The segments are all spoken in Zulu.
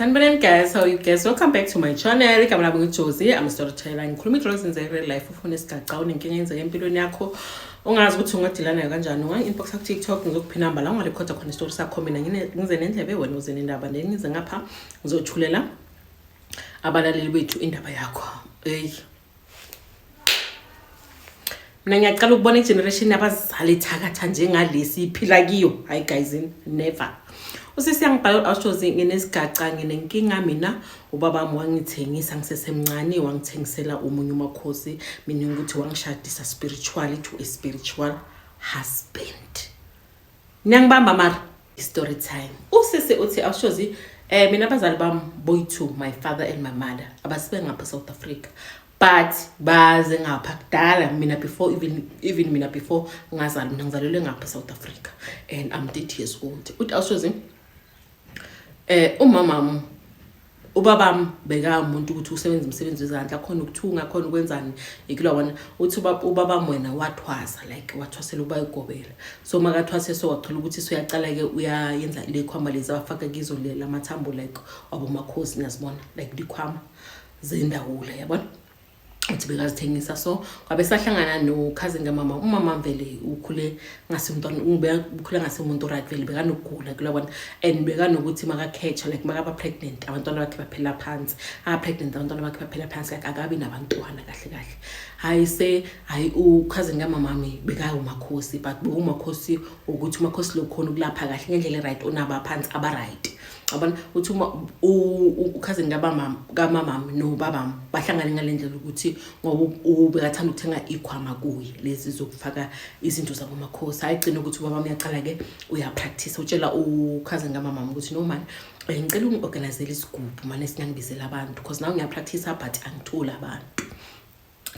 Sanibonani guys, how you guys? Welcome back to my channel. Igama lami ngiJozi, I'm a storyteller. Ngikhuluma into ezenza real life, ufuna isigaxa unenkinga yenzeka empilweni yakho. Ungazi ukuthi ungadila nayo kanjani. Unga inbox ku TikTok ngizokuphi number la ungarecorda khona story sakho mina ngize nendlebe wena uze nendaba then ngize ngapha ngizothulela abalaleli bethu indaba yakho. Hey. mina ngiyacala ukubona igeneration yabazali ethakatha njengalesi iphila kiyo hayi guys never usisi yangibhala u-aushozi nginesigaca nginenkinga mina ubabami wangithengisa ngisesemncane wangithengisela omunye umakhosi mina ukuthi wangishadisa spiritually to a spiritual husband niyangibamba mara Story time. Usisi uthi awushozi eh mina abazali bami boy two my father and my mother abasibe ngapha South Africa but baze ngapha kudala mina before even even mina before ngazalwa mina ngizalelwe ngapha South Africa and I'm 30 years old. Uthi awushozi eh umama ubabam bekawumuntu ukuthi usebenza umsebenzi wezandla khona ukuthunga khona ukwenzani ikula wona uthi ubabam wena wathwasa like wathwasela uba igobela so makathwase so waqhela ukuthi soyacala-ke uyayenza lekhwama lezi abafaka kizo la mathambo like wabomakhosi niyazibona like likhwama zendawula yabona uthi bekazithengisa so kwabe sahlangana nokhazini kamama umama vele ukhule ngasemntwana ukhule ngasemuntu right vele bekanokugula kula bona and bekanokuthi makakhetha like makaba pregnant abantwana bakhe baphela phansi a pregnant abantwana bakhe baphela phansi like akabi nabantwana kahle kahle hayi se hayi ukhazini kamama mi bekawumakhosi but bewumakhosi ukuthi umakhosi lokhona ukulapha kahle ngendlela right onaba phansi aba right abona uthi uma ukhazini kabamama kamamami nobabami bahlangane ngale ndlela ukuthi ngoba ubekathanda ukuthenga ikhwama kuye lezi zokufaka izinto zabomakhosi hhayi gcina ukuthi ubaba uyaqala-ke uyapractise utshela ukhazini kamamami ukuthi no mani eh, ngicela ungi-organizele isigubhu mane sinangibizela abantu because nawe ngiyapractisa but angitholi abantu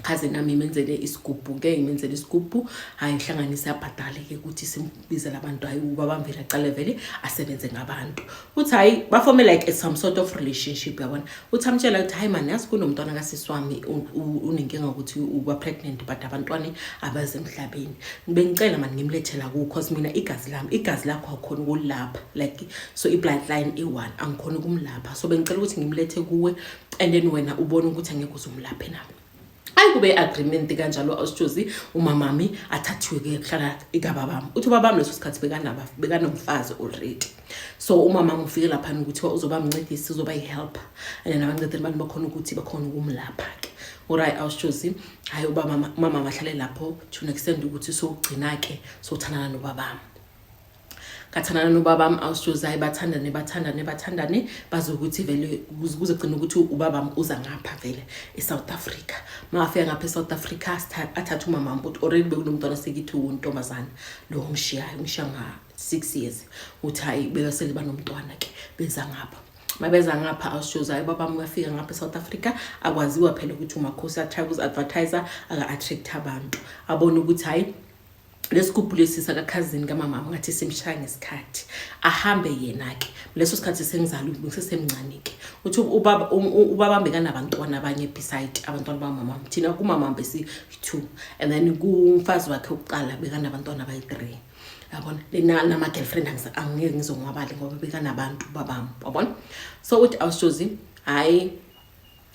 khaze nami imenzele isigubhu ke imenzele isigubhu hayi ihlanganise abhadale ke ukuthi simbizela abantu hayi ubaba mvela aqale vele asebenze ngabantu uthi hayi bafome like some sort of relationship yabona uthi amtshela ukuthi hayi mani yazi kunomntwana kasisi wami unenkinga ukuthi uba pregnant but abantwana abaze emhlabeni bengicela mani ngimlethela ku cause mina igazi lami igazi lakho akhona ukulapha like so i bloodline e1 angikhona ukumlapha so bengicela ukuthi ngimlethe kuwe and then wena ubona ukuthi angeke uzumlaphe nabo ayi kube agreement kanjalo awusitshozi umamami athathiwe ke kuhlala ikababami uthi ubabami leso sikhathi bekanaba bekanomfazi already so umamami ufike laphana ukuthi uzoba mncedisi uzoba yi-helper and then abancedeli abantu bakhona ukuthi bakhona ukumlapha ke oray awusitshozi hhayi umamami ahlale lapho to an extend ukuthi sowugcina-ke sowuthandana nobabami ngathandana nobabam awusijozayi bathandane bathandane bathandane baze ukuthi vele kuzogcina ukuthi ubabam uza ngapha vele e-south africa mangafika ngapha e-south africa athathe umamam ukuthi already bekunomntwana sekithi wuntombazana lo ongishiyayo ungishiya nga-six years ukuthi hhayi bekasele banomntwana ke beza ngapha mabeza ngapha awushozayo ubabam uyafika ngapha e-south africa akwaziwa phela ukuthi umakhosi atry ukuzi-advertiser aka-attract abantu abone ukuthi hhayi lesigubhu lesi sakakhazini kamamam ngathi simshaya ngesikhathi ahambe yena-ke leso sikhathi sengizala umuntu ngisesemncane-ke uthi ubabambe kanabantwana abanye beside abantwana bamamam thina kumamam besi-two and then kumfazi wakhe wokuqala bekanabantwana abayi-three yabona lenama-girlfriend angeke ngizonwabale ngoba bekanabantu babam wabona so uthi awushozi hhayi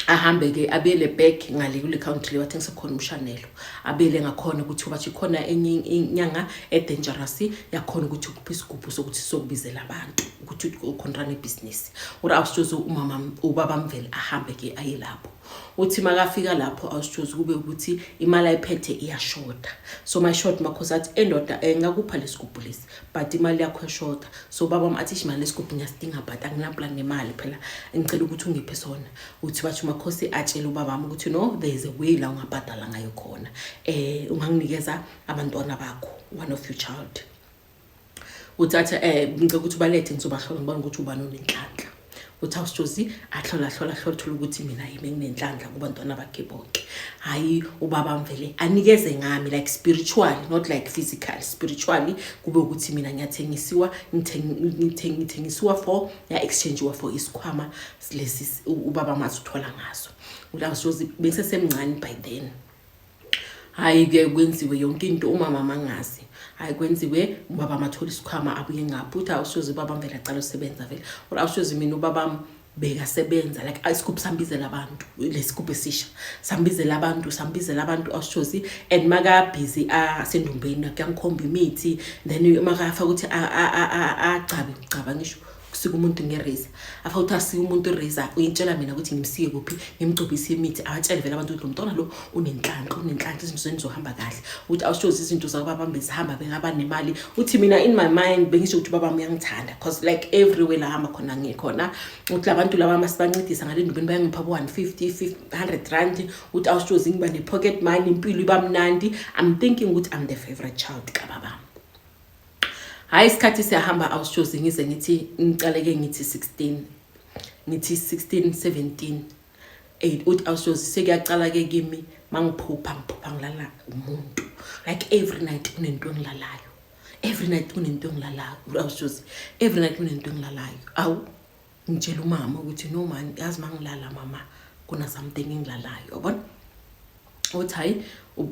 ahambe-ke abuyele back ngale kule county le wathengisa khona umshanelo abuyele ngakhona ukuthi bathi khona enye inyanga edangerous yakhona ukuthi ukuphi isigubhu sokuthi sokubizela abantu ukuthi ukhontrana ibhizinisi uri awusitshozi umama ubaba mvele ahambe-ke aye lapho uthi makafika lapho awusitshozi kube ukuthi imali ayiphethe iyashoda so my short makhosi athi endoda engakupha eh, lesigubhu lesi but imali yakho yashoda so ubaba wami athi ishimali lesigubhu ngiyasidinga but anginaplan nemali phela ngicela ukuthi ungiphe sona uthi basho umakhosi atshele ubaba wami ukuthi no there is a way la ungabhadala ngayo khona um unganginikeza abantwana bakho one of your child uthi athi um eh, ngicela ukuthi ubalethe ngizobahlola ngibona ukuthi ubani onenhlanhla uthi awusjozi ahlola hlola hlola thola ukuthi mina yimi enginenhlanhla kubantwana bakhe bonke hayi ubaba mvele anikeze ngami like spiritually not like physical spiritually kube ukuthi mina ngiyathengisiwa ngithengisiwa for ya exchange wa for isikhwama lesi ubaba mazi uthola ngaso uthi awusjozi bengisesemncane by then hayi kuyaye kwenziwe yonke into umama mangazi hayi kwenziwe ubaba mathole isikhwama abuye ngapho ukuthi awusoze ubaba mvele acala usebenza vele or awusoze mina ubaba bekasebenza like isigubhu sambizela abantu lesigubhu esisha sambizela abantu sambizela abantu awusoze and makabhizi asendumbeni kuyangikhomba imithi then makafaka ukuthi agcabe ngicaba ngisho kusika umuntu ngereza afa ukuthi asike umuntu ireza uyintshela mina ukuthi ngimsiye kuphi ngimgcobise imithi abatshele vele abantu ukuthi lo mntwana lo unenhlanhla unenhlanhla izinto zenu zohamba kahle ukuthi awushozi izinto zakubaba bezihamba bengaba nemali uthi mina in my mind bengisho ukuthi ubaba uyangithanda because like everywhere la hamba khona ngikhona ukuthi labantu laba masibancedisa ngale ndubeni bayangipha bo 150 100 rand ukuthi awushozi ngiba ne pocket money impilo iba mnandi i'm thinking ukuthi i'm the favorite child kababa Hayi isikhathi siyahamba awushozi ngize ngithi ngicaleke ngithi 16 ngithi 16 17 8 uthi awushozi sekuyacala ke kimi mangiphupha ngiphupha ngilala umuntu like every night kunento engilalayo every night kunento engilalayo awushozi every night kunento engilalayo awu ngitshela umama ukuthi no man yazi uma ngilala mama kunasamthing engilalayo yabona uthi hayi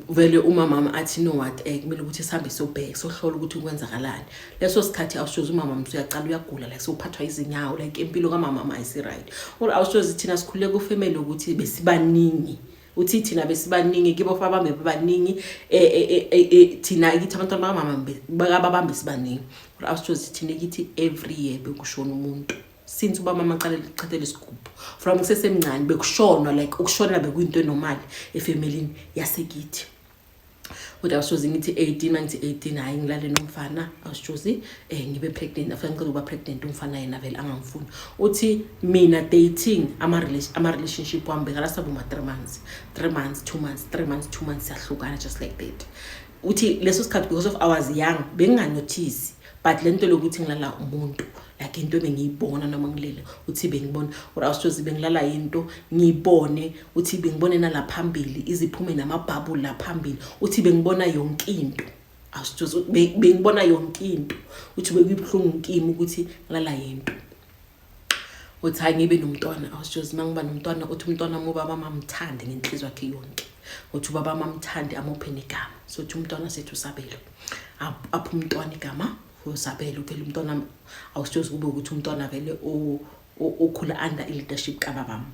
vele umamama athi no what um kumele ukuthi sihambe sobheke sohlola ukuthi kwenzakalani leso sikhathi awushozi umama mntu uyacala uyagula like sowuphathwa izinyawo like impilo kamamama ayisi-right or awushozi thina sikhululeka ufemele ukuthi besibaningi uthi thina besibaningi kibo babambe babaningi e, e, e, thina kithi abantwana bakamama bakababambe sibaningi kodwa awusithozi thina kithi every year bekushona umuntu since uba mama aqale lichithele isigubhu from kusesemncane bekushonwa like ukushona bekuyinto enomali efemelini yasekithi kodwa awushozi ngithi 18 mangithi 18 hayi ngilale nomfana awushozi um eh, ngibe pregnant after ngicela ukuba pregnant umfana yena vele angangifuni uthi mina dating ama-relationship wami bekala sabe uma-three months three months two months three months two months siyahlukana just like that uthi leso sikhathi because of ours young benginganothisi but le nto lokuthi ngilala umuntu like into ebengiyibona noma ngilele uthi bengibona or awusithozi bengilala yinto ngiyibone uthi bengibone nala phambili iziphume namabhabu la phambili uthi bengibona yonke into awusithozi bengibona yonke into uthi bekuyibuhlungu kimi ukuthi ngilala yinto uthi hayi ngibe nomntwana awusithozi uma ngiba nomntwana uthi umntwana mubaba mamthande ngenhliziyo yakhe yonke uthi ubaba mamthande amuphe negama sothi umntwana sethu sabelo apha umntwana igama Usabele uvele umntwana awusithozi kube ukuthi umntwana vele okhula under i-leadership kababam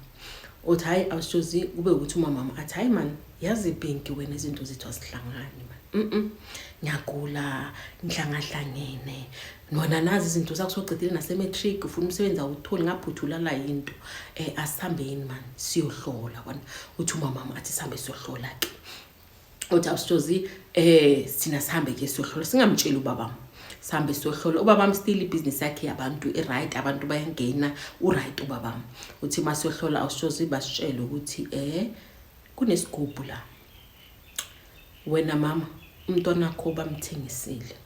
uthi hhayi awusithozi kube ukuthi umamam athi hhayi mani yazi ibhinki wena izinto zethu azihlangani mani mm ngiyagula ngihlangahlangene nona nazi izinto zakho sogcedile nasematric ufuna umsebenzi awutholi ngaphuthulala yinto um asihambeni mani siyohlola kona uthi umamam athi sihambe siyohlola-ke othi awusithozi eh sina sihambe ke sohlola singamtsheli ubabam sihambe sohlola ubabam still ibhizinisi yakhe yabantu i-right abantu bayangena u-right ubabam uthi uma sohlola awusithozi basitshele ukuthi eh kunesigubhu la wena mama umntwana wakho bamthengisile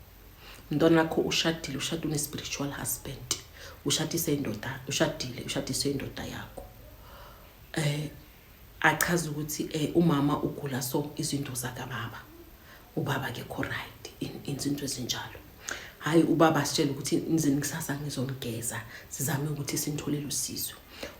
umntwana wakho ushadile ushade une-spiritual husband ushadise indoda ushadile ushadise indoda yakho um eh, achaze ukuthi eh, umama ugula so izinto zakababa ubaba kekho right izinto ezinjalo hhayi ubaba asitshele ukuthi nizini kusasa ngizonigeza sizame ukuthi sinitholele usizo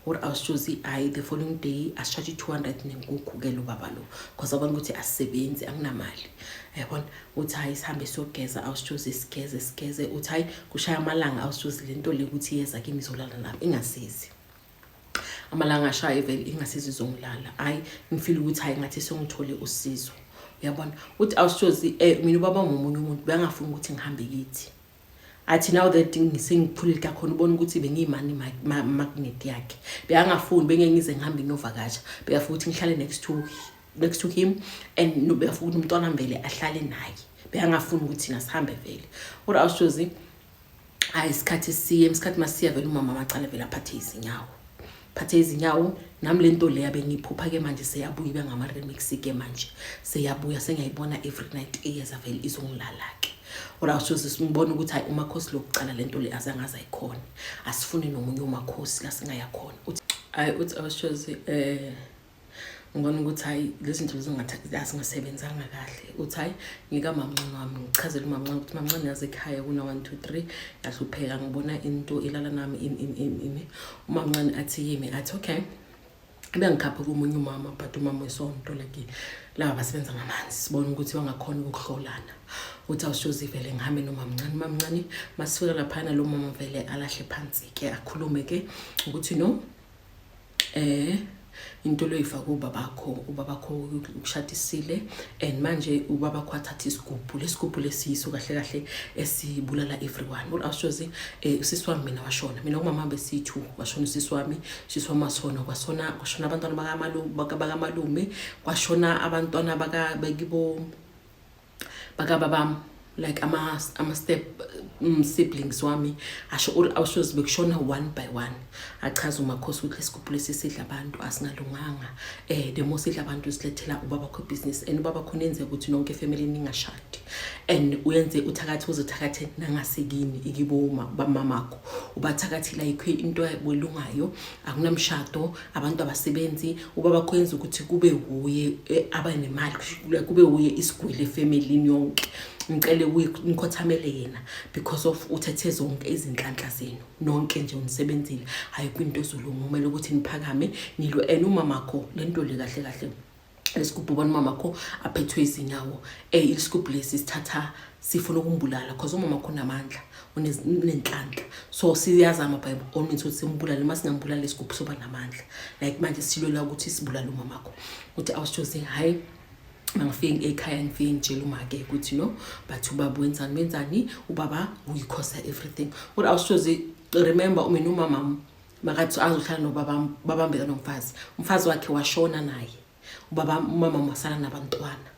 or awusishozi hhayi the following day asishatshe i-two hundred nenkukhu ke lo baba lo because abona ukuthi asisebenzi anginamali yabona uthi hhayi sihambe siyogeza awusishozi sigeze sigeze uthi hhayi kushaya amalanga awusishozi le nto le ukuthi yeza kimi izolala lapho ingasizi amalanga ashaye vele ingasiza izongilala hayi ngifile ukuthi hayi ngathi sengithole usizo uyabona uthi awushozi um eh, mina ubaba ngomunye umuntu bengafuni ukuthi ngihambe kithi athi now that ngisengiphulile kakhona ubona ukuthi bengiyimani magnet yakhe beyangafuni bengeke ngize ngihambe nginovakasha beyafuna ukuthi ngihlale next to next to him and beyafuna ukuthi umntwana mbele ahlale naye beyangafuni ukuthi ngasihambe vele kodwa awushozi Hayi isikhathi siye isikhathi masiya vele umama macala vele aphathe izinyawo. Phathe izinyawo nami lento le yabe ngiphupha ke manje seyabuya ibe ngama remix ke manje. Seyabuya sengiyayibona every night iyeza vele izongilala ke. Ora usho sisibona ukuthi hayi umakhosi lokucala lento le azangaza ikhona. Asifuni nomunye umakhosi la singaya khona. Uthi hayi uthi awushozi eh ngibona ukuthi hhayi lezi zinto zingasebenzanga kahle uthi hhayi ngika mamncane wami ngichazele umamncane ukuthi mamncane yazi ekhaya kuna-one two three ngahlupheka ngibona into ilala nami ini ini ini ini umamncane athi yimi athi okay bengikhaphe komunye umama but umama wesonto like laba basebenza ngamanzi sibona ukuthi wangakhona ukuhlolana uthi awushozi vele ngihambe nomamncane umamncane masifika laphana lo mama vele alahle phansi ke akhulume ke ukuthi no eh into loyifaka ubabakho ubabakho ukushadisile and manje ubabakho athatha isigubhu lesigubhu lesiyiso kahle kahle esibulala everyone ul ashozi eh usisi wami mina washona mina umama besithu washona usisi wami usisi wami wasona kwasona kwashona abantwana bakamalume bakamalume kwashona abantwana baka bekibo bakaba bam like ama, ama step um, siblings wami asho uri awushozi bekushona one by one achaza umakhosi ukuthi lesigubhu lesi sidla abantu asingalunganga eh the more sidla abantu silethela ubaba kho business and ubaba khona enze ukuthi nonke family ningashadi and uyenze uthakathi uzothakathe nangasekini ikiboma bamamakho ubathakathela ikho into ebulungayo akunamshado abantu abasebenzi ubaba kwenza ukuthi kube wuye eh, abanemali kube wuye isigwili efemelini yonke ngicele nikhothamele yena because of uthethe zonke izinhlanhla zenu nonke nje unisebenzile hhayi kwinto ezolunga kumele ukuthi niphakame nilwe and umamakho le nto le kahle kahle isigubhu ubona umama kho aphethwe izinyawo um eh, isigubhu lesi sithatha sifuna ukumbulala cause umama kho unamandla unenhlanhla so siyazama by all means ukuthi simbulale uma singambulala isigubhu soba namandla like manje silwela ukuthi sibulale umama kho ukuthi awusithoze hhayi mangifike ekhaya ngifike ngitshela umake ukuthi no but ubaba wenzani wenzani ubaba uyikhosa everything kodwa awusithoze remember umina umamam makathi azohlala nobaba babambeka nomfazi umfazi wakhe washona naye ubaba umama masala nabantwana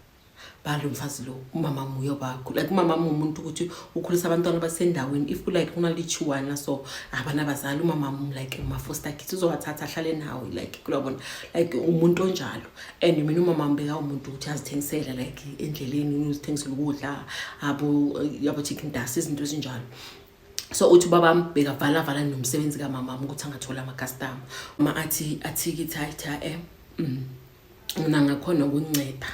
balo mfazi lo umama muye bakho like umama mumuntu ukuthi ukhulisa abantwana basendaweni if like unalichiwana so abanabazali umama mu like uma foster kids uzobathatha ahlale nawe like kulabona like umuntu onjalo and mina umama mbeka umuntu ukuthi azithengisele like endleleni uzithengisela ukudla abo yabo chicken dust izinto ezinjalo so uthi ubabami bekavalavala nomsebenzi kamamam ukuthi angatholi amakastama uma athi athikithi hayi cha em mm, mina ngakhona ukunceda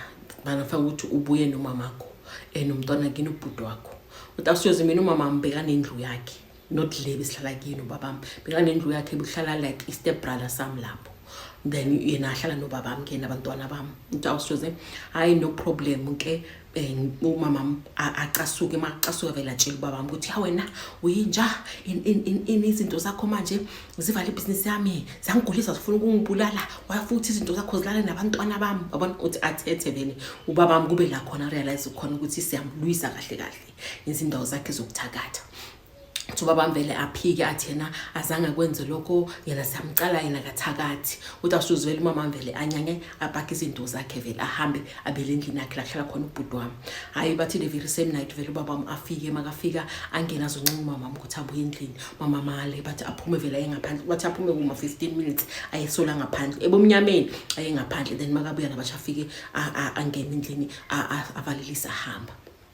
bangafaka ukuthi ubuye nomamakho um nomntwana kini ubhuti wakho uthi asiyoze mina umamam bekanendlu yakhe not le besihlala kini ubabami bekanendlu yakhe buhlala like i-step brother sam lapho then yena ahlala nobabami ke nabantwana bami uthi awusijoze hhayi no problem ke um umamam acasuke uma acasuka vele atshela ubabam ukuthi ya wena uyinja ini izinto zakho manje zivala ibhizinisi yami zangigulisa zifuna ukungibulala waya futhi izinto zakho zilale nabantwana bami babona ukuthi athethe vele ubabam kube la khona realize khona ukuthi siyamlwisa kahle kahle izindawo zakhe zokuthakatha ukuthi ubaba mvele aphike athi yena azange akwenze lokho yena siyamcala yena kathakathi ukuthi asuzwele umama mvele anyanye apakhe izinto zakhe vele ahambe abele endlini yakhe lahlala khona ubhuti wami hhayi bathi the very same night vele ubaba wami afike makafika angena azoncenga umama wami ukuthi abuye endlini mama male bathi aphume vele ayengaphandle bathi aphume kuma 15 minutes ayesola ngaphandle ebomnyameni ayengaphandle then makabuya nabasha afike angene endlini avalelise ahamba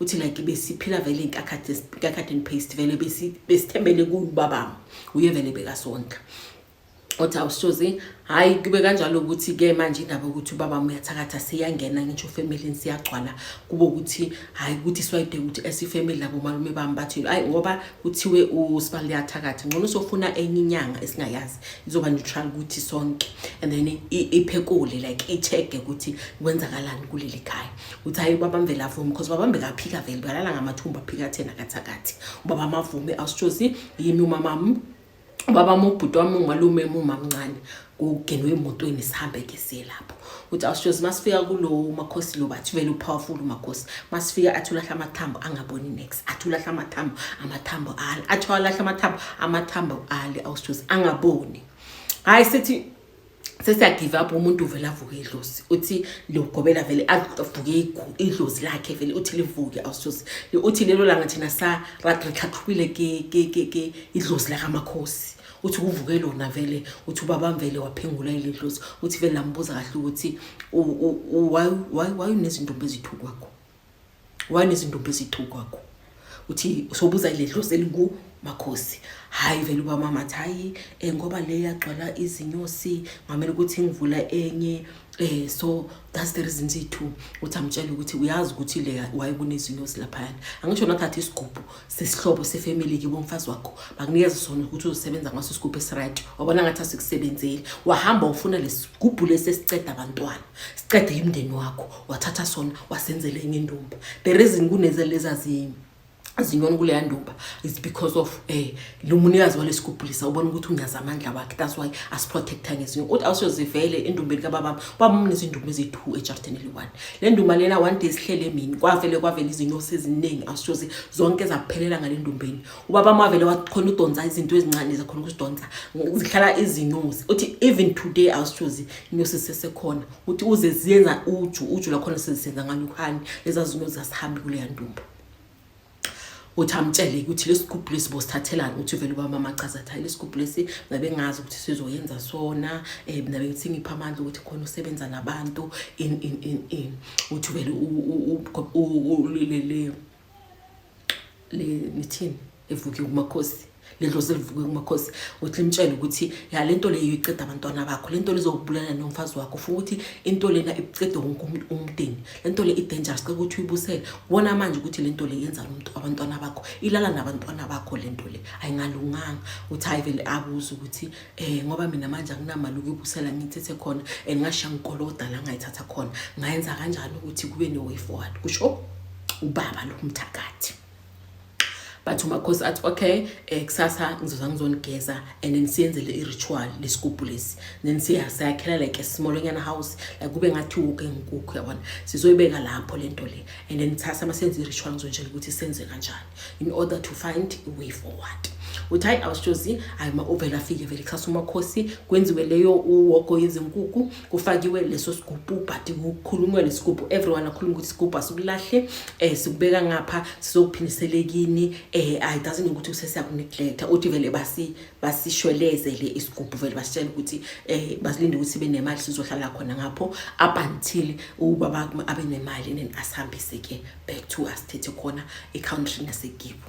uthi like besiphila vele inkakhathi and paste vele besithembele kubabam uye vele bekasondla othi awushozi hhayi kube kanjalo ukuthi-ke manje indaba yokuthi ubaba muyathakatha siyangena ngisho ufamilini siyagcwala kube ukuthi hhayi ukuthi swayide ukuthi esifamili labo malume bami bathi hhayi ngoba kuthiwe usibali liyathakatha ngcono sofuna enye inyanga esingayazi izoba neutral ukuthi sonke and then iphekule like i-check-e ukuthi kwenzakalani kuleli khaya uthi hayi ubaba mvela avume because ubaba mvela aphika vele balala ngamathumba aphika thena kathakathi ubaba mavume awusitshozi yimi umamam ubaba mobhuti wami umalume mumamncane kugenwe emotweni sihambe ke siye lapho uthi awusitshozi masifika kulo makhosi lo bathi vele upowerful umakhosi masifika athi ulahla amathambo angaboni next athi ulahla amathambo amathambo ali athi walahla amathambo amathambo ali awusitshozi angaboni hayi sithi sesiyagive up umuntu uvele avuke idlozi uthi liyogobela vele avuke idlozi lakhe vele uthi livuke awusuze uthi lelo langa thina saratrithathubile ke idlozi lakamakhosi uthi kuvuke lona vele uthi ubaba mvele waphengula ile dlozi uthi vele lambuza kahle ukuthi why why why unezintombi ezithu kwakho wanezintombi ezithu kwakho uthi sobuza le dlozi elingu makhosi hayi vele uba mama athi hayi um ngoba le yagcwala izinyosi ngamele ukuthi ngivula enye um so that's the reason zithu ukuthi amtshele ukuthi uyazi ukuthi le wayekunezinyosi laphayana angisho nathatha isigubhu sesihlobo sefamily kibo mfazi wakho bakunikeza sona ukuthi uzosebenza ngaso isigubhu esiright wabona ngathi asikusebenzeli wahamba ufuna lesigubhu lesi esiceda abantwana siqede imndeni wakho wathatha sona wasenzela enye indumba the reason kunezeleza zimi zinyoni kuleya ndumba is because of eh lo munikazi walesigubhulisa ubona ukuthi unyaza amandla wakhe that's why asiprotecta ngezinye uthi awusozivele endumbeni kababam kwamumna izindumba eziyi-two ejarden eli-one le ndumba lena one day sihlele emini kwavele kwavele izinyosi eziningi awusoze zonke zaphelela ngale ndumbeni ubaba mavele wakhona udonsa izinto ezincane zakhona ukuzidonsa zihlala izinyosi uthi even today awusithozi inyosi sesekhona uthi uze ziyenza uju uju lakhona sezisenza nganyukhani leza zinyosi zasihambi kuleya ndumba uthi amtshele ukuthi lesigubhu lesi bosithathelana uthi vele ubaba mama chaza thayi lesigubhu lesi ngabe ngazi ukuthi sizoyenza sona eh nabe ngithi ngipha amandla ukuthi khona usebenza nabantu in in in in uthi vele u u u lele lithini livuke kumakhosi lidlozi livuke kumakhosi uthi limtshele ukuthi ya le nto leyo iceda abantwana bakho le nto lizokubulala nomfazi wakho funa ukuthi into lena icede wonke umndeni le nto le i-dangerous ceke ukuthi uyibusele kubona manje ukuthi le nto le yenza lomntu abantwana bakho ilala nabantwana bakho le nto le ayingalunganga uthi hayi vele abuze ukuthi eh ngoba mina manje akunamali ukuyibusela ngithethe khona and ngasha ngikoloda la ngayithatha khona ngayenza kanjani ukuthi kube ne way forward kusho ubaba lo mthakathi but umakhosi athi okay eh kusasa ngizoza ngizonigeza and then siyenzele i-ritual lesigubhu lesi then siya sayakhela like a smallonyana house like kube ngathi woke inkukhu yabona sizoyibeka lapho lento le and then kusasa masenze i-ritual ngizonjela ukuthi senze kanjani in order to find a way forward uthi hayi awushozi hayi ma uvele afike vele kusasa umakhosi kwenziwe leyo uwogo yezinkukhu kufakiwe leso sigubhu ubhadi kukhulunywe lesigubhu everyone akhulume ukuthi isigubhu asikulahle eh sikubeka ngapha sizokuphindiselekini eh i doesn't know ukuthi usesiyakuneglect uthi vele basi basishwelezele isigubhu vele basitshela ukuthi eh basilinde ukuthi sibe nemali sizohlala khona ngapho up until ubaba abe nemali and asihambise ke back to asithethe khona ecountry nasekibo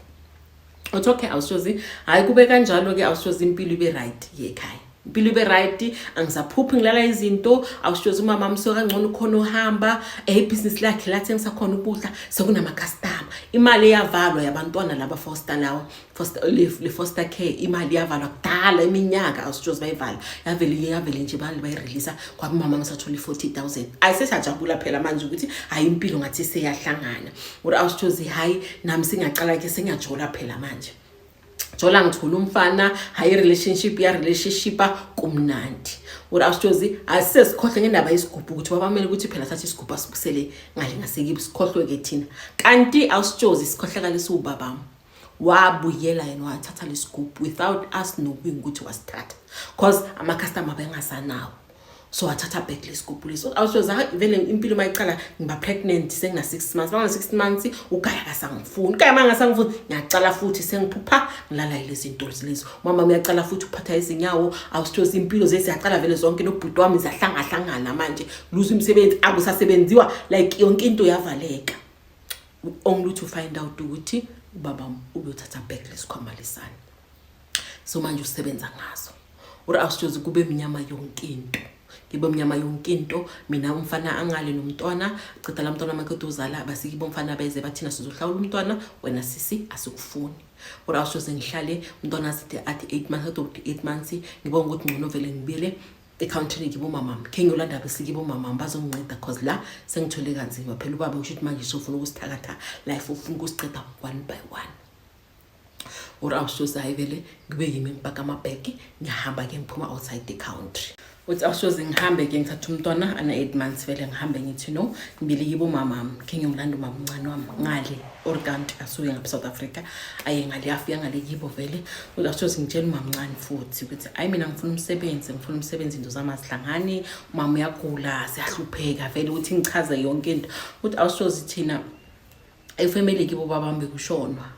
uthi okay awushozi hhayi kube kanjalo-ke awushozi impilo ibe right yekhaya impilo ibe right angisaphuphi ngilala izinto awushozi umama amsuke kangcono ukhona ohamba ebhizinisi lakhe lathengisakhona ukudla sekunamakastama imali eyavalwa yabantwana laba fosta lawa foster le, le foster care imali yavalwa kudala iminyaka awusitshozi bayivala yavele iye yavele nje bali bayireleasa kwamama ngisathole i-forty thousand ayisesajabula phela manje ukuthi hhayi impilo ngathi seyahlangana or awusitshozi hhayi nami singaqala ke sengiyajola phela manje jola ngithole umfana hhayi relationship ya relationship kumnandi or awusitshozi asisesikhohle ngendaba yesigubhu ukuthi wabamele ukuthi phela sathi isigubhu asibusele ngale ngasekibi sikhohlwe-ke thina kanti awusitshozi sikhohlakala esiwubabami wabuyela yena wathatha lesigubhu without us knowing ukuthi wasithatha cause ama-customer bengasanawo so wathatha back lesigubhu leso awusoza vele impilo uma iqala ngiba pregnant sengina-six months bangana-six months ugaya kasangifuni ugaya ma ngasangifuni ngiyacala futhi sengiphupha ngilala ilezi ntolo zilezo umama uyacala futhi ukuphatha izinyawo awusithozi impilo zeziyacala vele zonke nobhuti wami ziyahlangahlangana manje luza umsebenzi akusasebenziwa like yonke into yavaleka only to find out ukuthi ubaba uyothatha back lesikhwama lesani so manje usebenza ngazo uri awusithozi kube mnyama yonke into ngibe mnyama yonke into mina umfana angale nomntwana cedala umntwana makade uzala basikibo umfana beze bathina sizohlawula umntwana wena sisi asikufuni uri awusithozi ngihlale umntwana aside athi 8 months athi 8 months ngibonga ukuthi ngcono vele ngibile ekhawuntini kibo mamam khe ngiyolanda bese kibo mamam bazonginceda cause la sengithole kanzima phela ubaba usho ukuthi manje sofuna ukusithakatha life ufuna ukusiqeda one by one or awusoze hayi vele kube yimi ngibhaka amabheki ngiyahamba ke ngiphuma outside the country uthi awusoze ngihambe ke ngithatha umntwana ana-eight months vele ngihambe ngithi no ngibili kibo mamam khe ngiyomlanda umamncane wami ngale or kanti asuke ngapha south africa aye ngale afika ngale kibo vele uzasoze ngitshela umamncane futhi ukuthi hayi mina ngifuna umsebenzi ngifuna umsebenzi into zami azihlangani umama uyagula siyahlupheka vele ukuthi ngichaze yonke into ukuthi awusoze thina efamily kibo babami bekushonwa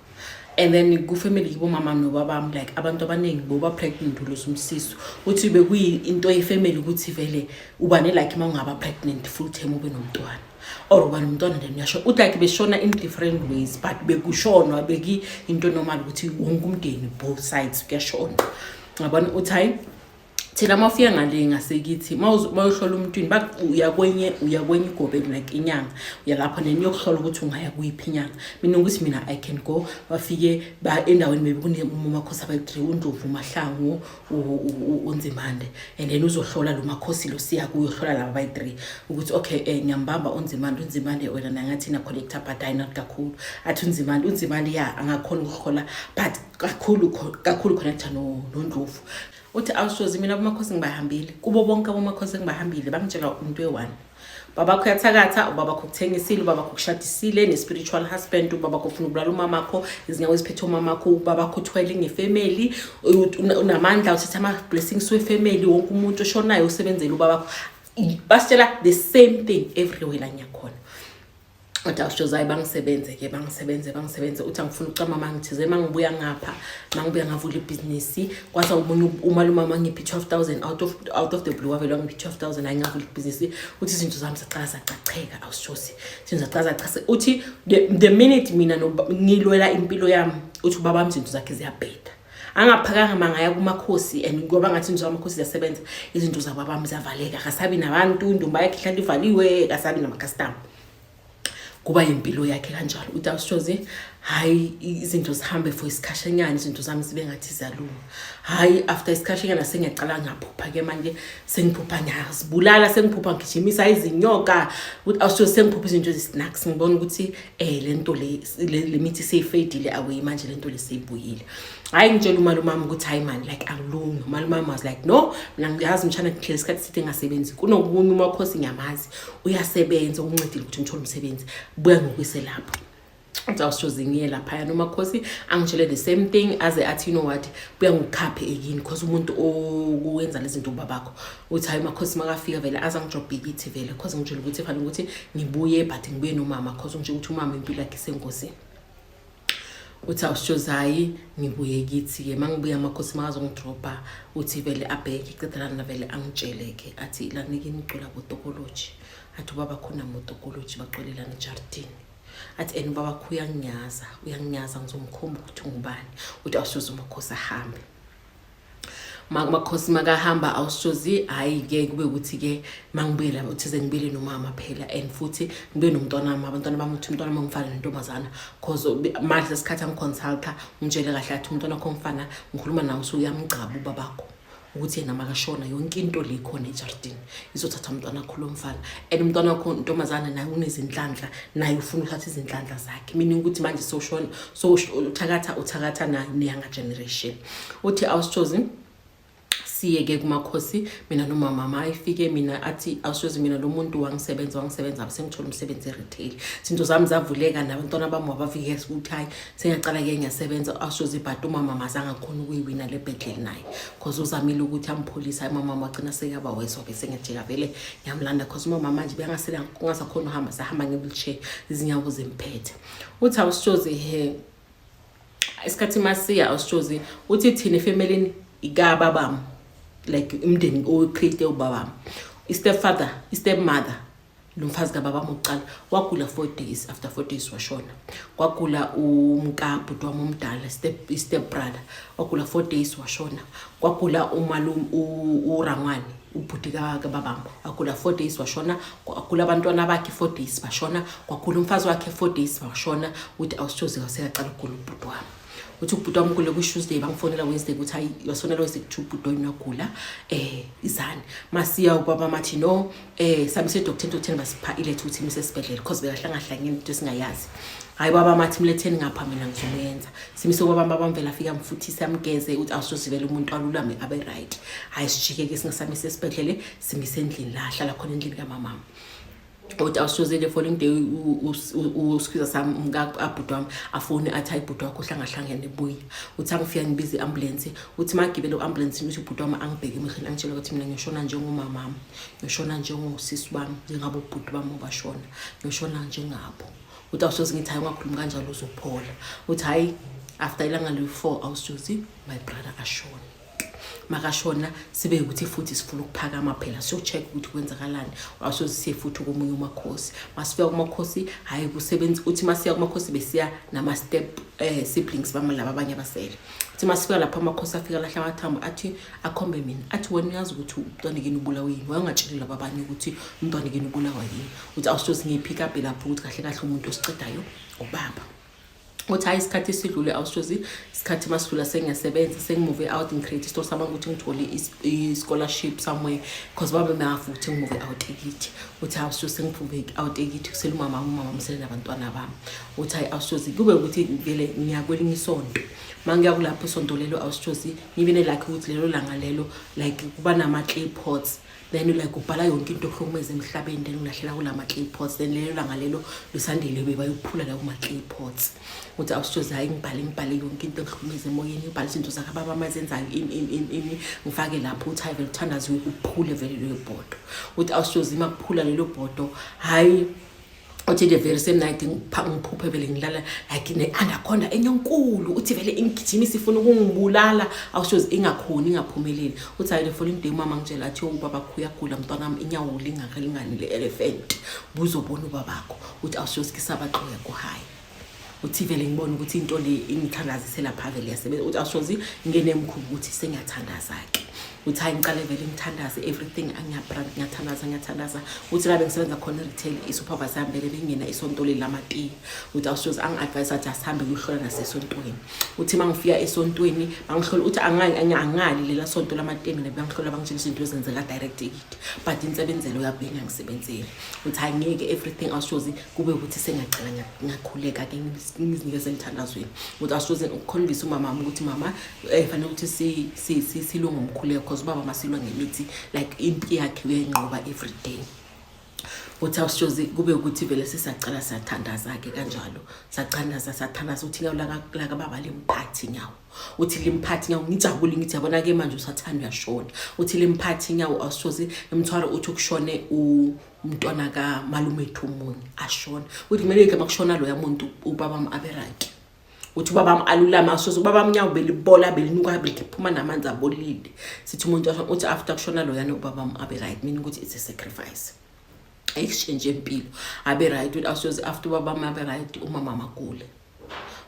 and then kufamily kibo mama nobabami like abantu abaningi boba pregnant ulusa umsiso uthi bekuyinto yefamily ukuthi vele ubane like uma ungaba pregnant full term ube nomntwana or ubani umntwana then uyasho uthi like beshona in different ways but bekushonwa beki into normal ukuthi wonke umndeni both sides kuyashona ngabona uthi hayi thina uma ufika ngale ngasekithi uma uyohlola umntwini uya kwenye uya kwenye igobeni like inyanga uya lapho neni yokuhlola ukuthi ungaya kuyiphi inyanga mina ukuthi mina i can go bafike endaweni maybe kunemumakhosi abayi-three undlovu umahlangu unzimande and then uzohlola lo makhosi lo siya kuyohlola laba bayi-three ukuthi okay um eh, ngiyambamba unzimande unzimande wena nangathi na-collecta but hayi not kakhulu athi unzimande unzimande ya angakhona ukuhlola but kakhulu kakhulu connecta nondlovu uthi awushozi mina abomakhosi ngibahambile kubo bonke abomakhosi engibahambile bangitshela into eyi-one babakho uyathakatha ubabakho ukuthengisile ubabakho ukushadisile ne-spiritual husband ubabakho ufuna ukubulala umamakho izinyawo eziphethe umamakho ubabakho uthwele ngefemeli unamandla uthatha ama-blessings wefemeli wonke umuntu oshonayo usebenzele ubabakho basitshela the same thing everywhere la ngiyakhona kodwa usho zayi bangisebenze ke bangisebenze bangisebenze uthi angifuna ukucama mangithize mangibuya ngapha mangibuya ngavula ibhizinisi kwasa umunye umalume mangiphi 12000 out of out of the blue wavela ngiphi 12000 hayi ngavula ibhizinisi uthi izinto zami zaqala zaqacheka awushosi izinto zaqala zaqase uthi the minute mina ngilwela impilo yami uthi ubaba mzinto zakhe ziyabheda angaphakanga mangaya kumakhosi and ngoba ngathi nje amakhosi ziyasebenza izinto zabo abami ziyavaleka akasabi nabantu indumba yakhe ihlala ivaliwe akasabi namakhastama kuba yimpilo yakhe kanjalo uthi awushoze hhayi izinto zihambe for isikhashanyana izinto zami zibe ngathi ziyalunga hhayi after isikhashanyana sengiyacala ngaphupha-ke manje sengiphupha ngiyazibulala sengiphupha ngigijimisa izinyoka ukuthi awushoze sengiphupha izinto ezi-snacks ngibona ukuthi eh lento le lemithi seyifedile akuyi manje lento le seyibuyile hayi ngitshela umalumami ukuthi hayi mani like angilungi umalumami was like no mina ngiyazi mshana ngihlele isikhathi sithe ngasebenzi kunokunye uma khosi ngiyamazi uyasebenza ukuncedile ukuthi ngithole umsebenzi buya ngokuyise lapho uzawushoze ngiye laphaya noma khosi angitshele the same thing aze athi you know what buya ngokukhaphe ekini because umuntu owenza lezi zinto ubabakho uthi hayi makhosi makafika vele aze angijobhikithi vele cause ngitshela ukuthi fanele ukuthi ngibuye but ngibuye nomama cause ngitshela ukuthi umama impilo yakhe isengozini uthi awusitshozi hhayi ngibuye kithi-ke uma ngibuya amakhosi makazongidrobha uthi vele abheke qedelana vele angitshele-ke athi lanike nigcula botokoloji athi ubaba khona motokoloji bacolelana ejardini athi and ubaba kho uyanginyaza uyanginyaza ngizomkhomba ukuthi ungubani uthi awusitshozi umakhosi ahambe makhosi makahamba awushozi hayi ke kube ukuthi ke mangibuyela uthize ngibuyele nomama phela and futhi ngibe nomntwana wami abantwana bami ukuthi umntwana wami ngifana nentombazana cause manje isikhathi angiconsulta ngitshele kahle athi umntwana wakho mfana ngikhuluma nawe usuke uyamgcaba ubabakho ukuthi yena makashona yonke into le khona ejardini izothatha umntwana wakho lo mfana and umntwana wakho ntombazana naye unezinhlanhla naye ufuna ukuthatha izinhlanhla zakhe meaning ukuthi manje soshona so uthakatha uthakatha nayo neyanga generation uthi awusitshozi siyeke kumakhosi mina nomama ma ayifike mina athi awushozi mina lo muntu wangisebenza wangisebenza sengithola umsebenzi e-retail zinto zami zavuleka nabantwana bami wabavike ukuthi hhayi sengiyaqala ke ngiyasebenza awushozi but umama mazange akhona ukuyiwina le bhedleli naye cause uzamile ukuthi ampholise umama wagcina sekuyaba weso-ke sengiyajika vele ngiyamlanda cause umama manje bengasakhona uhamba sahamba nge-wheelchair izinyawo zimphethe uthi awushozi he isikhathi masiya awusitshozi uthi thina efemelini ikababam like umndeni oqhite ubabam i-step father i-step mother lo mfazi kababam wokuqala wagula four days after four days washona kwagula umkabhuti wam omdala i-step brother wagula four days washona kwagula umalum urangwane ubhuti kababam agula four days washona agula abantwana bakhe four days bashona kwagula umfazi wakhe four days bashona ukuthi awusithozi kasekaqala ukugula ubhuti wami uthi ubhuti wami kule kwi-tuesday bangifonela wednesday ukuthi hayi wasonela wednesday kuthi ubhuti wayini wagula um eh, izani masiya ubaba mathi no um eh, sami sedoktheni dokteni basipha iletha ukuthi mise esibhedlela because bekahlangahlangeni into esingayazi hhayi baba mathi mletheni ngapha mina ngizomuyenza simise kwabami abamvela afike amfuthise amgeze ukuthi awusozivela umuntu alulame abe right hhayi sijike-ke singasamise esibhedlele simise endlini la ahlala khona endlini kamamama othi awusoze the following day usikhwiza sami umkaabhuti wami afone athi hayi bhuti wakho uhlangahlangene buya uthi angifika ngibize i-ambulensi uthi magibele u-ambulensini uthi ubhuti wami angibheke emehleni angitshela ukuthi mina ngiyoshona njengomamami ngiyoshona njengosisi bami njengabo ubhuti bami obashona ngiyoshona njengabo uthi awusoze ngithi hayi ungakhulumi kanjalo uzophola uthi hhayi after ilanga liwu-four awusoze my brother ashone makashona sibe ukuthi futhi sifuna ukuphakama phela siyocheck ukuthi kwenzakalani awusoze siye futhi komunye umakhosi masifika kumakhosi hhayi kusebenzi uthi masiya kumakhosi besiya nama-step um siblings bami laba abanye abasele uthi masifika lapho amakhosi afika lahle amathambo athi akhombe mina athi wena uyazi ukuthi umntwanekini ubulawa yini wayengatsheli laba abanye ukuthi umntwanekini ubulawa yini ukuthi awusoze ngiyiphikaphi lapho ukuthi kahle kahle umuntu osicedayo ubaba uthi hayi isikhathi sidlule awusoze isikhathi masidlula sengiyasebenza sengimuve out ngicreate isitolo sami ukuthi ngithole i-scholarship somewhere because baba mafu ukuthi ngimuve out ekithi uthi awusoze sengiphumbe out ekithi kusele umama umama msele nabantwana bami uthi hayi awusoze kube ukuthi vele ngiya kwelinye isonto uma ngiya kulapho isonto lelo awusoze ngibe nelakhe ukuthi lelo langa lelo like kuba nama-clay pots then like ubhala yonke into okuhlukumeza emhlabeni then ulahlela kulama clay pots then lelo langa lelo lisandile beba yokuphula la kuma clay pots uthi awusijoza hayi ngibhale ngibhale yonke into okuhlukumeza emoyeni ubhala izinto zakhe ababa amazenzayo ini ini ini ngifake lapho uthi hayi vele uthandaziwe kuphule vele leyo bhodo uthi awusijoza ima kuphula lelo bhodo hayi uthi the very same night ngiphuphe vele ngilala like ne-anaconda enyonkulu uthi vele ingigijima isifuna ukungibulala awushozi ingakhoni ingaphumeleli uthi hayi the following day umama ngitshela athi ubaba khuyagula mntwanam inyawo lingakalingani le-elephant buzobona ubabakho uthi awushozi kisabaxoya kuhayi uthi vele ngibona ukuthi into le ingithandazisela pha vele yasebenza uthi awushozi ngene emkhulu ukuthi sengiyathandaza-ke uthi hayi ngicale vele ngithandaze everything angiyabrand ngiyathandaza ngiyathandaza uthi labe ngisebenza khona retail isupervisor yami vele bengena isonto leli lamatiye uthi awushozi angi-advise athi asihambe kuyohlola nasesontweni uthi uma ngifika esontweni bangihlola uthi angali lela sonto lamatiye mina bangihlola bangitshela izinto ezenzeka direct ekiti but insebenzelo yabo bengangisebenzeli uthi hayi ngeke everything awushozi kube ukuthi sengaqala ngakhuleka ke ngizinikeze emthandazweni ukuthi asoze ukukhombisa umama wami ukuthi mama eh, fanele ukuthi silwe ngomkhuleko because ubaba masilwa ngemithi like impi yakhe uyenqoba every day uthi awushozi kube ukuthi vele sisacala sathandaza-ke kanjalo sathandaza sathandaza uthi nyawo lakababa limphathi nyawo uthi limphathi nyawo ngijabule ngithi yabona-ke manje usathanda uyashona uthi limphathi nyawo awushozi emthwalo uthi ukushone umntwana kamalumethu omunye ashona ukuthi kumele yike makushona loya muntu ubabam abe right ukuthi ubabam alulame asoze ubabam nyawo belibola belinuka beliphuma namanzi abolile sithi umuntu ashona uthi after kushona loyana ubabam abe right meaning ukuthi it's a sacrifice exchange empilo abe right ukuthi asoze after ubabam abe right umama magule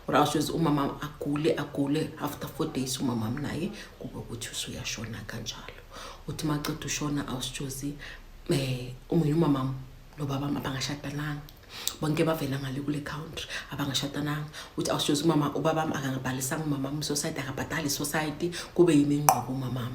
or else uyoze umama agule agule after four days umama naye kube ukuthi usuyashona kanjalo uthi maceda ushona awusitshozi um eh, omunye umamam nobaba abangashadananga bonke bavela ngale kule country abangashadananga uthi awusitshozi umama ubabam akangabhalisanga umamam society akabhadali society kube yimi ingqobo umamam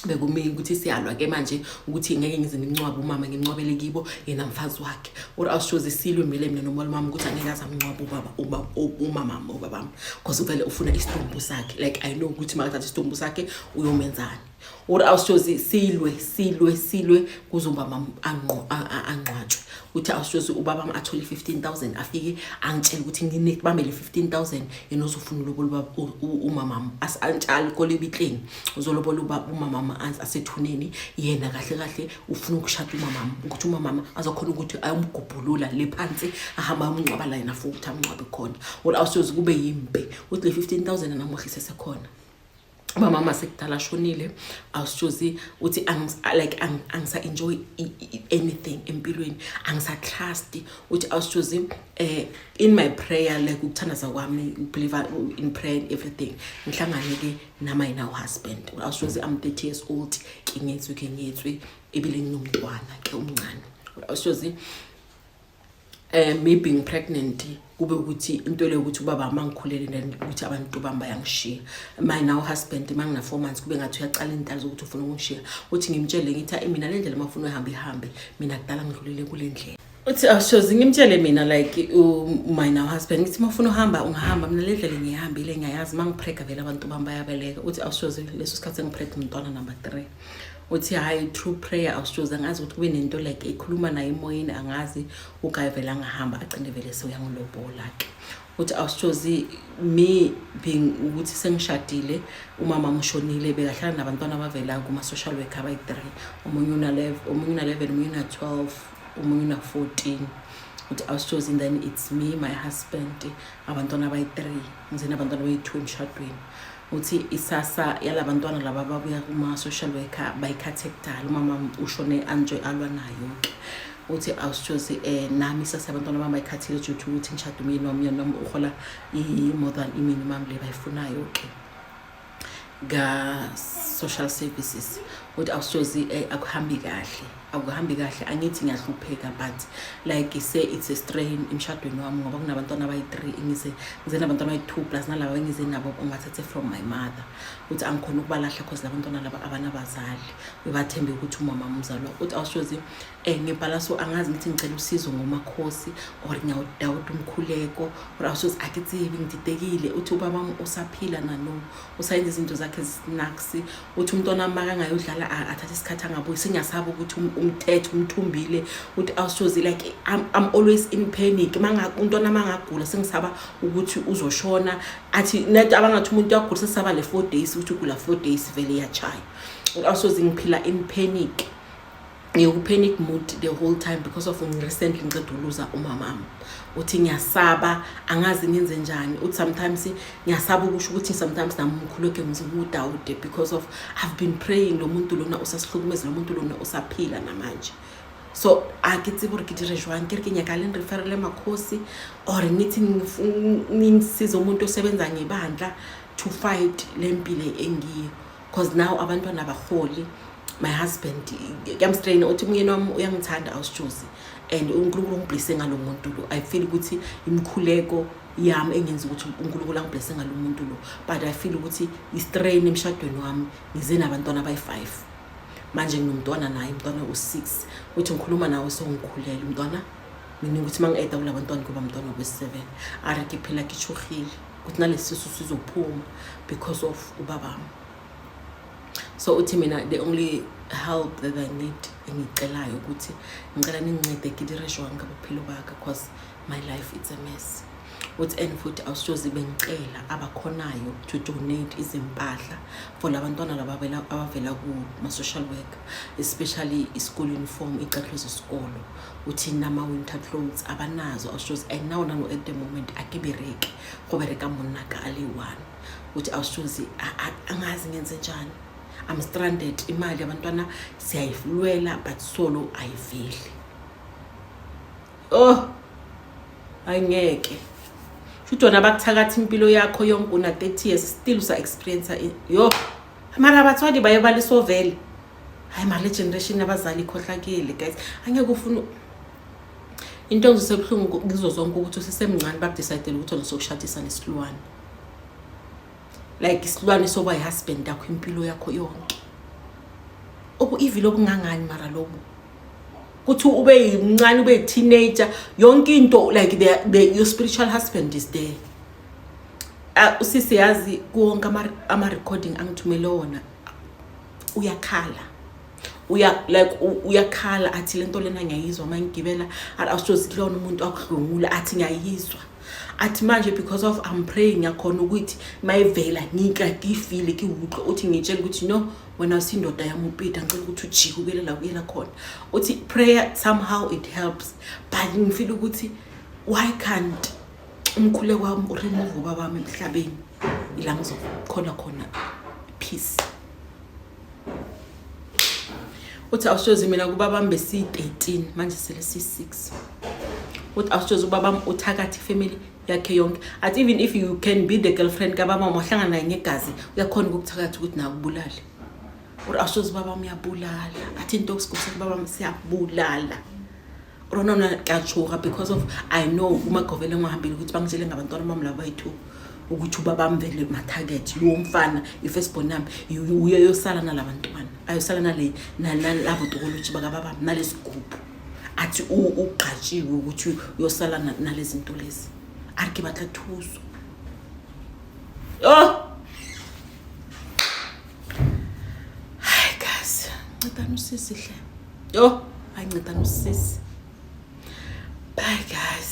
bekumele ukuthi siyalwa ke manje ukuthi ngeke ngize ngimncwabe umama ngimncwabele kibo yena mfazi wakhe or awushoze silwe mele mina nomolo mama ukuthi angeke aze amncwabe ubaba ubaba umama ubaba because uvele ufuna isitumbu sakhe like i know ukuthi makathatha isitumbu sakhe uyomenzani or awushoze silwe silwe silwe kuzomba mama angqwatshwe uthi awushoze ubaba wami athole 15000 afike angitshela ukuthi nginekubambele 15000 yena uzofuna ulobo lobaba umama wami asantshali kolebitleni uzolobola uba umamama asethuneni yena kahle kahle ufuna ukushada umamama ukuthi umamama azokhona ukuthi ayomgubhulula le phansi ahamba ayomngcwaba la yena futhi ukuthi amngcwabe khona or awusoze kube yimpe ukuthi le fifteen thousand anamuhle sesekhona umamama sekudala ashonile awusoze uthi like angisa-enjoy anything empilweni angisa-trust uthi awusoze um eh, in my prayer like ukuthandaza kwami believe in prayer and everything ngihlangane-ke nama yena uhusband awuswezi am 30 years old ke ngetswe ke ngetswe ebile nginomntwana ke umncane awuswezi eh me being pregnant kube ukuthi into le ukuthi ubaba mangikhulele then ukuthi abantu bami bayangishiya my now husband mangina 4 months kube ngathi uyaqala indalo zokuthi ufuna ukungishiya uthi ngimtshele ngithi mina le ndlela mafuna uhambe ihambe mina kudala ngidlulele kule ndlela uthi awushozi ngimtshele mina like umina uhusband ngithi uma ufuna uhamba ungahamba mina le ndlela ngiyihambile ngiyayazi uma ngiprega vele abantu bami bayabeleka uthi awushozi leso sikhathi engiprega umntwana number three uthi hhayi true prayer awushozi angazi ukuthi kube nento like ekhuluma naye emoyeni angazi ugaye vele angahamba agcine vele sewuyangilobola-ke uthi awushozi me being ukuthi sengishadile umama mushonile bekahlala nabantwana abavela kuma-social worker abayi-three omunye una-level omunye una-twelve omunye una-14 uthi i was chosen then it's me my husband abantwana abayi-three ngizeni abantwana abayi-two emshadweni uthi isasa yala bantwana laba babuya kuma-social worker bayikhathe kudala umama ushone anjoy alwa nayo-ke uthi awusitshozi um eh, nami isase abantwana bami bayikhathile juthi ukuthi ngishade umyeni wami yona noma uhola i-more than iminimum le bayifunayo-ke ka-social services ukuthi awusozi eh, akuhambi kahle akuhambi kahle angithi ngiyahlupheka but like say it's a strain emshadweni wami ngoba kunabantwana abayi-three ngize ngize nabantwana abayi-two plus nalaba engize nabo ungathathe from my mother ukuthi angikhona ukubalahla cause labantwana laba abanabazali ubathembe ukuthi umama umzalwa ukuthi awusozi um ngibhala so angazi ngithi ngicela usizo ngomakhosi or ngiyawudawuda umkhuleko or awusoze akitsibi ngididekile uthi ubaba wami usaphila nano usayenza izinto zakhe zinaksi uthi umntwana wami makangayodlala athathe isikhathi angabuyi sengiyasabi ukuthi um, umthethe umthumbile uthi awusoze like I'm, i'm always in panic umntwana mangagula sengisaba ukuthi uzoshona athi net abangathi umuntu uyagula sesaba le four days ukuthi ugula four days vele iyachaya awusoze ngiphila in panic ngiwupanic mood the whole time because of recently ngiceda uluza umamam uthi ngiyasaba angazi ngenze njani uthi sometimes ngiyasaba ukusho ukuthi sometimes nami umkhuleke ngizimudawude because of i've been praying lo muntu lona usasihlukumeza lo muntu lona usaphila namanje so a ke tsebe gore ke dire jwang ke re ke nyaka leng re ferele makgosi or ngithi ngisize umuntu osebenza ngebandla to fight le mpile engiyo cause now abantwana abaholi my husband kuyamstraina uthi umyeni wami uyangithanda awusitshuzi and unkulunkulu ungiblese ngalo muntu lo i feel ukuthi imikhuleko yami engenza ukuthi unkulunkulu angiblese ngalo muntu lo but i feel ukuthi istrain emshadweni wami ngize nabantwana abayi-five manje nginomntwana naye umntwana u-six uthi ngikhuluma nawe songikhulele umntwana mina ukuthi uma ngi-eda kula bantwana kuba mntwana wesi-seven arikiphela kitshuhile ukuthi nalesisu sizophuma because of ubabami so uthi mina the only help that i need engicelayo ukuthi ngicela ningincede kidireshwa ngabophilo bakhe because my life it's a mess uthi and futhi awusoze bengicela abakhonayo to donate izimpahla for labantwana laba abavela kuma-social worker especially i-school uniform icathulo zesikolo uthini nama winter clothes abanazo austrols and now nano at the moment akibereki go bereka monna ka ale one uthi austrols angazi ngenze njani i'm stranded imali abantwana siyayilwela but solo ayiveli oh angeke futhi wona bakuthakathi impilo yakho yonke una 30 years still usa experience yo mara abathwali baye balisovele hayi mali generation yabazali ikhohlakele guys angeke ufuna into engizosebuhlungu ngizo zonke ukuthi usesemncane bakudecidele ukuthi ngizokushadisa nesilwane like isilwane soba yihusband yakho impilo yakho yonke obu-evil obungangani mara lobu kuthi ube yimncane ube yi-teenager yonke into like the, the, your spiritual husband is there uh, usisi yazi kuwonke ama-recording angithumele wona uyakhala uya like uyakhala athi lento lena ngiyayizwa uma ngigibela awusozi kulona umuntu akudlungula athi ngiyayizwa athi manje because of I'm praying yakhona ukuthi mayivela ngikade ifile kiwuqo uthi ngitshela ukuthi no wena usindoda yamupita ngicela ukuthi ujike ukuyela la kuyela khona uthi prayer somehow it helps but ngifile ukuthi why can't umkhule wami uremove ubaba wami emhlabeni ila ngizokhona khona peace uthi awusozi mina kubaba wami besiyi-13 manje sele siyi-6 uthi awusozi ubaba wami uthakathi family yakhe yonke at even if you can be the girlfriend kababa wami wahlangana naye ngegazi uyakhona ukukuthakathi ukuthi nawe ubulale or awusozi ubaba wami uyabulala athi into okusigusakubaba wami siyabulala rona mna kyatshuka because of i know umagovele ngwahambile ukuthi bangitshele ngabantwana bam laba bayi-two ukuthi uba bamvele mathakethi lowo mfana i-first born yami uye yosala nala bantwana ayosala nale nalabo tokoloji bakababam nalesi gubhu athi ugqatshiwe ukuthi uyosala nalezi nto lezi a ri ke batla thuso oh! hayi kazi ncedani usisihle yho ayinceda nosisi bye guys